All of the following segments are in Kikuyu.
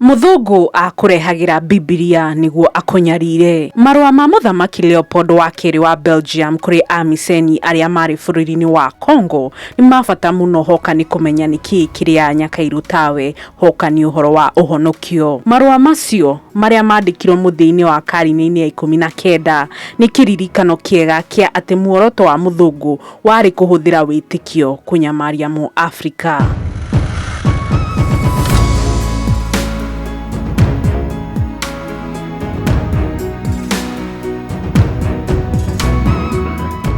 Mũthũngũ aakũrehagĩra Bibilia nĩguo akũnyarire. Marũa ma Mũthamaki Leopold wa Kerĩ wa Belgium kũrĩ Amiseni arĩa maarĩ bũrũri-inĩ wa Congo nĩ ma bata mũno hoka nĩ kũmenya nĩ kĩĩ kĩrĩa Nyakairu tawe hoka nĩ ũhoro wa ũhonokio. Marũa macio, marĩa maandĩkirũo mũthia-inĩ wa karine-inĩ ya ikũmi na kenda, nĩ kĩririkano kĩega kĩa atĩ muoroto wa Mũthũngũ Warĩ kũhũthĩra wĩtĩkio kũnyamaria Mũafrika.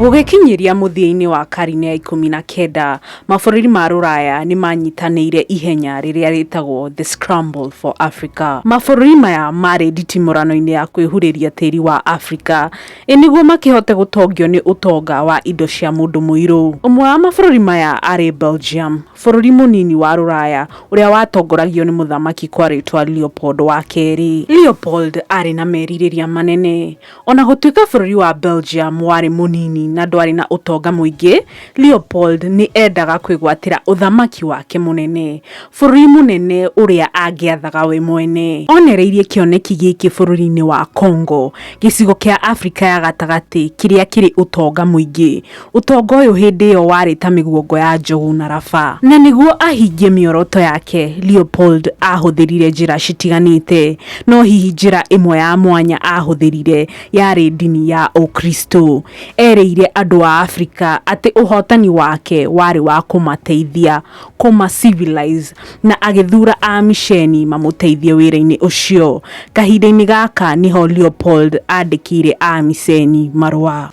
Gũgĩkinyĩria mũthia-inĩ wa karine ya ikũmi na kenda, mabũrũri ma Rũraya nĩ maanyitanĩire ihenya rĩrĩa rĩtagwo The Scramble for Africa. Mabũrũri maya maarĩ nditimũrano-inĩ ya kwĩhurĩria tĩri wa Afrika. Ĩ nĩguo makĩhote gũtongio nĩ ũtonga wa indo cia mũndũ mũirũ? Ũmwe wa mabũrũri maya aarĩ Belgium, bũrũri mũnini wa Rũraya ũrĩa watongoragio nĩ mũthamaki kwa rĩĩtwa Leopold wa Kerĩ. Leopold aarĩ na merirĩria manene. O na gũtuĩka bũrũri wa Belgium warĩ mũnini na ndwarĩ na ũtonga mũingĩ, Leopold nĩ eendaga kwĩgwatĩra ũthamaki wake mũnene, bũrũri mũnene ũrĩa angĩathaga we mwene. Oonereirie kĩoneki gĩkĩ bũrũri-inĩ wa Congo, gĩcigo kĩa Afrika ya Gatagatĩ kĩrĩa kĩrĩ ũtonga mũingĩ. Ũtonga ũyũ hĩndĩ ĩyo warĩ ta mĩguongo ya njogu na raba. Na nĩguo ahingie mĩoroto yake, Leopold aahũthĩrire njĩra citiganĩte. No hihi njĩra ĩmwe ya mwanya aahũthĩrire yarĩ ndini ya Ũkristo. eerĩire andũ a Afrika atĩ ũhootani wake warĩ wa kũmateithia kũma civilize na agĩthuura Aamisheni mamũteithie wĩra-inĩ ũcio. Kahinda-inĩ gaka nĩho Leopold aandĩkĩire Aamiseni marũa.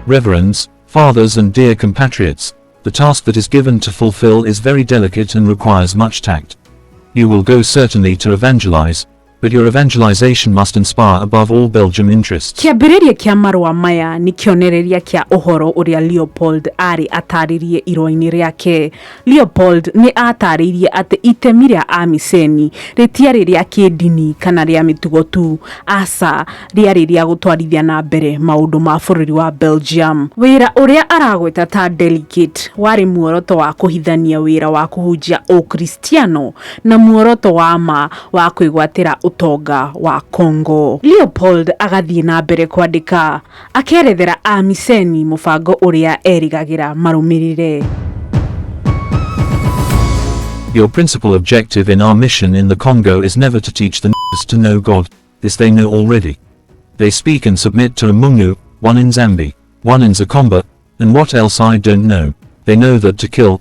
Reverends, Fathers and dear compatriots, the task that is given to fulfill is very delicate and requires much tact. You will go certainly to evangelize, But your evangelization must inspire above all Belgium interests. Kĩambĩrĩria kĩa marũa maya nĩ kĩonereria kĩa ũhoro ũrĩa Leopold aarĩ ataarĩrie irũa-inĩ rĩake. Leopold nĩ aataarĩirie atĩ itemi rĩa Amiseni rĩtiarĩ rĩa kĩĩndini kana rĩa mĩtugo tu, aca, rĩarĩ rĩa gũtwarithia na mbere maũndũ ma bũrũri wa Belgium. Wĩra ũrĩa aragweta ta delegate warĩ muoroto wa kũhithania wĩra wa kũhunjia Ũkristiano na muoroto wa ma wa kwĩgwatĩra ũtonga wa Congo. Leopold agathiĩ na mbere kwandĩka akerethera Amiseni mũbango ũrĩa erĩgagĩra marũmĩrĩre. Your principal objective in our mission in the Congo is never to teach the n***s to know God. This they know already. They speak and submit to a Mungu, one in Zambi, one in Zakomba, and what else I don't know. They know that to kill,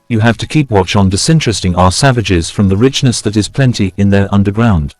You have to keep watch on disinteresting our savages from the richness that is plenty in their underground.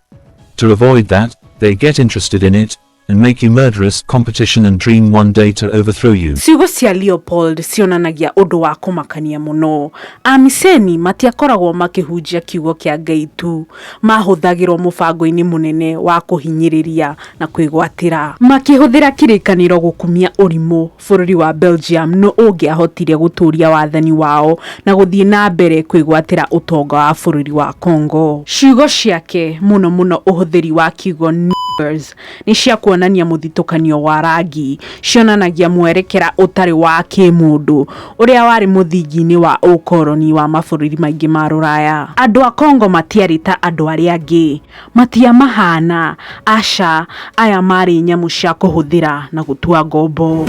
To avoid that, they get interested in it, and make you murderous competition and dream one day to overthrow you. Ciugo cia Leopold cionanagia ũndũ wa kũmakania mũno. Amiseni matiakoragwo makĩhunjia kiugo kĩa Ngai tu, mahũthagĩrwo mũbango-inĩ mũnene wa kũhinyĩrĩria na kwĩgwatĩra. Makĩhũthĩra kĩrĩkanĩro gũkumia ũrimũ, bũrũri wa Belgium nũ ũngĩahotire gũtũũria wathani wao na gũthiĩ na mbere kwĩgwatĩra ũtonga wa bũrũri wa Congo. Ciugo ciake, mũno mũno ũhũthĩri wa kiugo niggers, nĩ cia kuonania mũthitũkanio wa rangi, cionanagia mwerekera ũtarĩ wa kĩĩmũndũ ũrĩa warĩ mũthingi-inĩ wa ũkoroni wa mabũrũri maingĩ ma Rũraya. Andũ a Congo matiarĩ ta andũ arĩa angĩ. Matiamahaana, aca, aya maarĩ nyamũ cia kũhũthĩra na gũtua ngombo.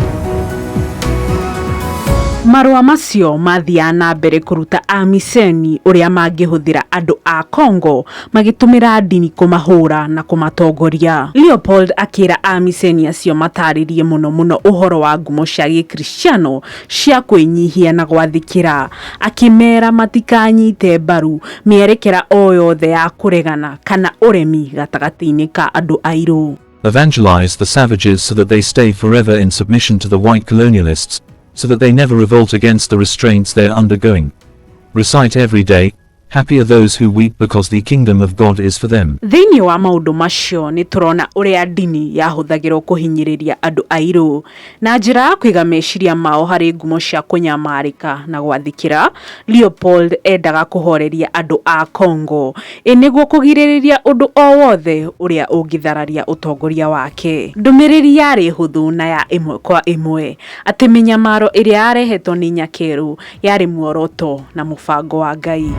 Marũa macio maathiaga na mbere kũruta Amiseni ũrĩa mangĩhũthĩra andũ a Congo magĩtũmĩra ndini kũmahũũra na kũmatongoria. Leopold akĩra Amiseni acio mataarĩrie mũno mũno ũhoro wa ngumo cia Gĩkristiano cia kwĩnyihia na gwathĩkĩra, akĩmeera matikanyite mbaru mĩerekera o yothe ya kũregana kana ũremi gatagatĩ-inĩ ka andũ airũ. Evangelize the savages so that they stay forever in submission to the white colonialists, so that they never revolt against the restraints they are undergoing. Recite every day, Happy are those who weep because the kingdom of God is for them. Thĩinĩ wa maũndũ macio nĩ tũrona ũrĩa ndini yahũthagĩrũo kũhinyĩrĩria andũ airũ. Na njĩra ya kũiga meciria mao harĩ ngumo cia kũnyamarĩka na gwathĩkĩra, Leopold eendaga kũhooreria andũ a Congo, ĩ nĩguo kũgirĩrĩria ũndũ o wothe ũrĩa ũngĩthararia ũtongoria wake. Ndũmĩrĩri yarĩ hũthũ na ya ĩmwe kwa ĩmwe, atĩ mĩnyamaro ĩrĩa yarehetwo nĩ Nyakeru Yarĩ muoroto na mũbango wa Ngai.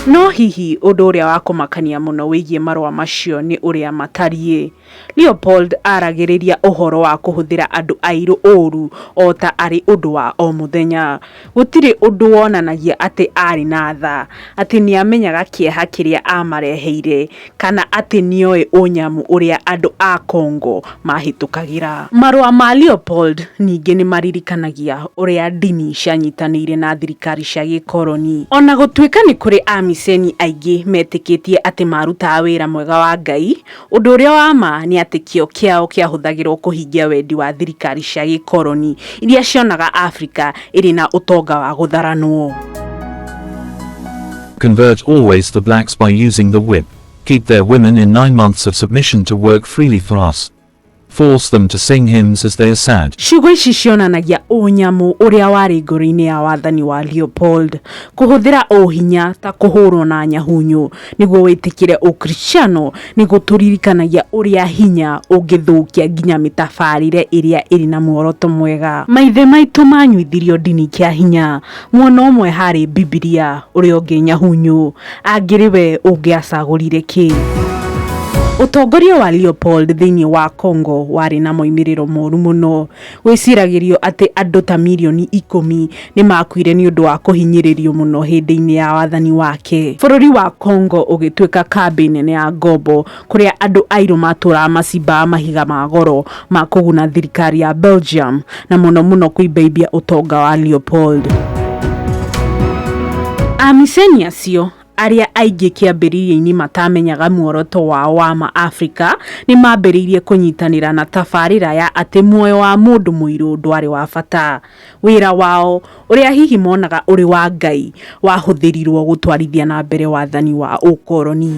No hihi ũndũ ũrĩa wa kũmakania mũno wĩgiĩ marũa macio nĩ ũrĩa matariĩ. Leopold aaragĩrĩria ũhoro wa kũhũthĩra andũ airũ ũũru o ta arĩ ũndũ wa o mũthenya. Gũtirĩ ũndũ wonanagia atĩ aarĩ na tha, atĩ nĩ aamenyaga kĩeha kĩrĩa aamareheire, kana atĩ nĩoĩ ũnyamũ ũrĩa andũ a Congo maahĩtũkagĩra. Marũa ma Leopold ningĩ nĩ maririkanagia ũrĩa ndini cianyitanĩire na thirikari cia gĩkoroni. O na gũtuĩka nĩ kũrĩ Amiceni aingĩ meetĩkĩtie atĩ maarutaga wĩra mwega wa Ngai, ũndũ ũrĩa wa ma nĩ atĩ kĩyo kĩao kĩahũthagĩrũo kũhingia wendi wa thirikari cia gĩkoroni iria cionaga Afrika ĩrĩ na ũtonga wa gũtharanwo. Convert always the blacks by using the whip. Keep their women in nine months of submission to work freely for us. Force them to sing hymns as they are sad. Ciugo ici cionanagia ũnyamũ ũrĩa warĩ ngoro-inĩ ya wathani wa Leopold kũhũthĩra ũhinya ta kũhũrwo na nyahunyũ nĩguo wĩtĩkĩre Ũkristiano nĩ gũtũririkanagia ũrĩa hinya ũngĩthũkia nginya mĩtabarĩre ĩrĩa ĩrĩ na muoroto mwega. Maithe maitũ manyuithirio ndini kĩa hinya Mwena ũmwe harĩ Bibilia, ũrĩa ũngĩ Nyahunyũ. Angĩrĩ we ũngĩacagũrire kĩ? Ũtongoria wa Leopold thĩinĩ wa Congo warĩ na moimĩrĩro moru mũno. Gwĩciragĩrio atĩ andũ ta milioni ikũmi nĩ maakuire nĩ ũndũ wa kũhinyĩrĩrio mũno hĩndĩ-inĩ ya wathani wake. Bũrũri wa Congo ũgĩtuĩka kambĩ nene ya ngombo kũrĩa andũ airũ matũũraga macimbaga mahiga ma goro ma kũguna thirikari ya Belgium na mũno mũno kũimbaimbia ũtonga wa Leopold. Amiseni acio arĩa aingĩ kĩambĩrĩria-inĩ matamenyaga muoroto wao wa ma Afrika nĩ maambĩrĩirie kũnyitanĩra na tabarĩra ya atĩ muoyo wa mũndũ mũirũ ndwarĩ wa bata. wĩra wao ũrĩa hihi monaga ũrĩ wa Ngai wahũthĩrirũo gũtwarithia na mbere wathani wa ũkoroni.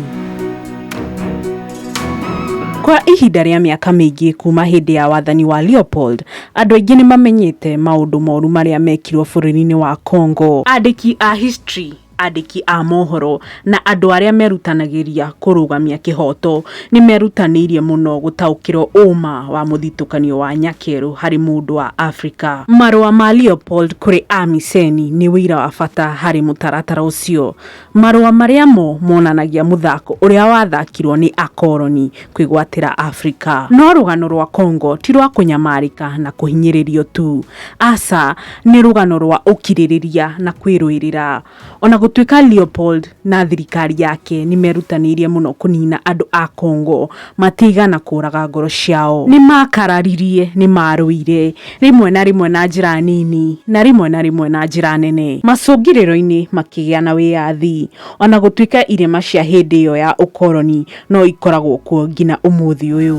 Kwa ihinda rĩa mĩaka mĩingĩ kuuma hĩndĩ ya wathani wa Leopold, andũ aingĩ nĩ mamenyete maũndũ moru marĩa mekirũo bũrũri-inĩ wa Congo. Andĩki a historĩ andĩki a mohoro, na andũ arĩa merutanagĩria kũrũgamia kĩhooto nĩ merutanĩirie mũno gũtaũkĩrũo ũũma wa mũthitũkanio wa nyakerũ harĩ mũndũ wa Afrika. Marũa ma Leopold kũrĩ Amiseni nĩ ũira wa bata harĩ mũtaratara ũcio. Marũa marĩa mo monanagia mũthako ũrĩa wathakirũo nĩ akoroni kwĩgwatĩra Afrika. No rũgano rwa Congo ti rwa kũnyamarĩka na kũhinyĩrĩrio tu. Aca, nĩ rũgano rwa ũkirĩrĩria na kwĩrũĩrĩra. O na gũtuĩka Leopold na thirikari yake nĩ merutanĩirie mũno kũniina andũ a Congo, matiigana kũũraga ngoro ciao. Nĩ maakararirie, nĩ maarũire, rĩmwe na rĩmwe na njĩra nini, na rĩmwe na rĩmwe na njĩra nene. Macũngĩrĩro-inĩ makĩgĩa na wĩyathi. O na gũtuĩka irema cia hĩndĩ ĩyo ya ũkoroni no ikoragwo kuo nginya ũmũthĩ ũyũ.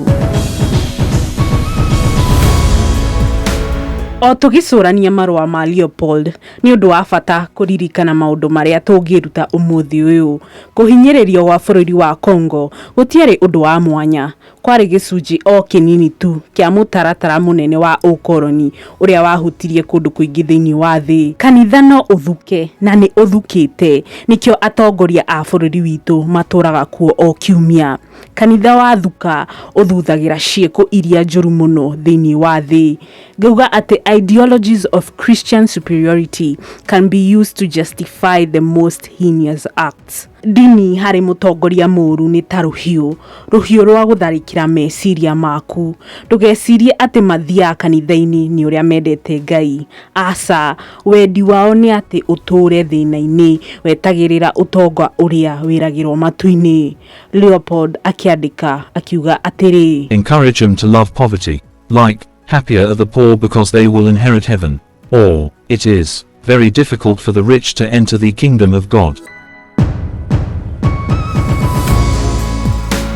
O tũgĩcũrania marũa ma Leopold, nĩ ũndũ wa bata kũririkana maũndũ marĩa tũngĩĩruta ũmũthĩ ũyũ. Kũhinyĩrĩrio gwa bũrũri wa Congo gũtiarĩ ũndũ wa mwanya, kwarĩ gĩcunjĩ o kĩnini tu kĩa mũtaratara mũnene wa ũkoroni ũrĩa wahutirie kũndũ kũingĩ thĩinĩ wa thĩ. Kanitha no ũthuke, na nĩ ũthukĩte. Nĩkĩo atongoria a bũrũri witũ matũraga kuo o kiumia. Kanitha wathuka, ũthuthagĩra ciĩko iria njũru mũno thĩinĩ wa thĩ. Ngauga atĩ ideologies of Christian superiority can be used to justify the most heinous acts. Ndini harĩ mũtongoria mũũru nĩ ta rũhiũ, rũhiũ rwa gũtharĩkĩra meciria maku. Ndũgecirie atĩ mathiaga kanitha-inĩ nĩ ũrĩa mendete Ngai. Aca, wendi wao nĩ atĩ ũtũũre thĩna-inĩ wetagĩrĩra ũtonga ũrĩa wĩragĩrũo matu-inĩ. Leopold akĩandĩka akiuga atĩrĩ. Encourage them to love poverty, like, Happier are the poor because they will inherit heaven. Or, it is, very difficult for the rich to enter the kingdom of God.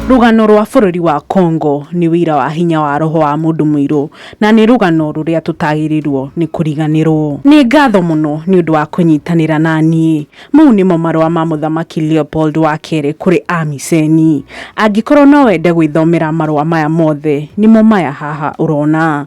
rũgano rwa bũrũri wa congo nĩ wĩira wa hinya wa roho wa mũndũ mũirũ na nĩ rũgano rũrĩa tũtagĩrĩirwo nĩ kũriganĩrwo nĩ ngatho mũno nĩ ũndũ wa kũnyitanĩra na niĩ mau nĩmo marũa ma mũthamaki leopold wa kerĩ kũrĩ amiseni angĩkorwo no wende gwĩthomera marũa maya mothe nĩmo maya haha ũrona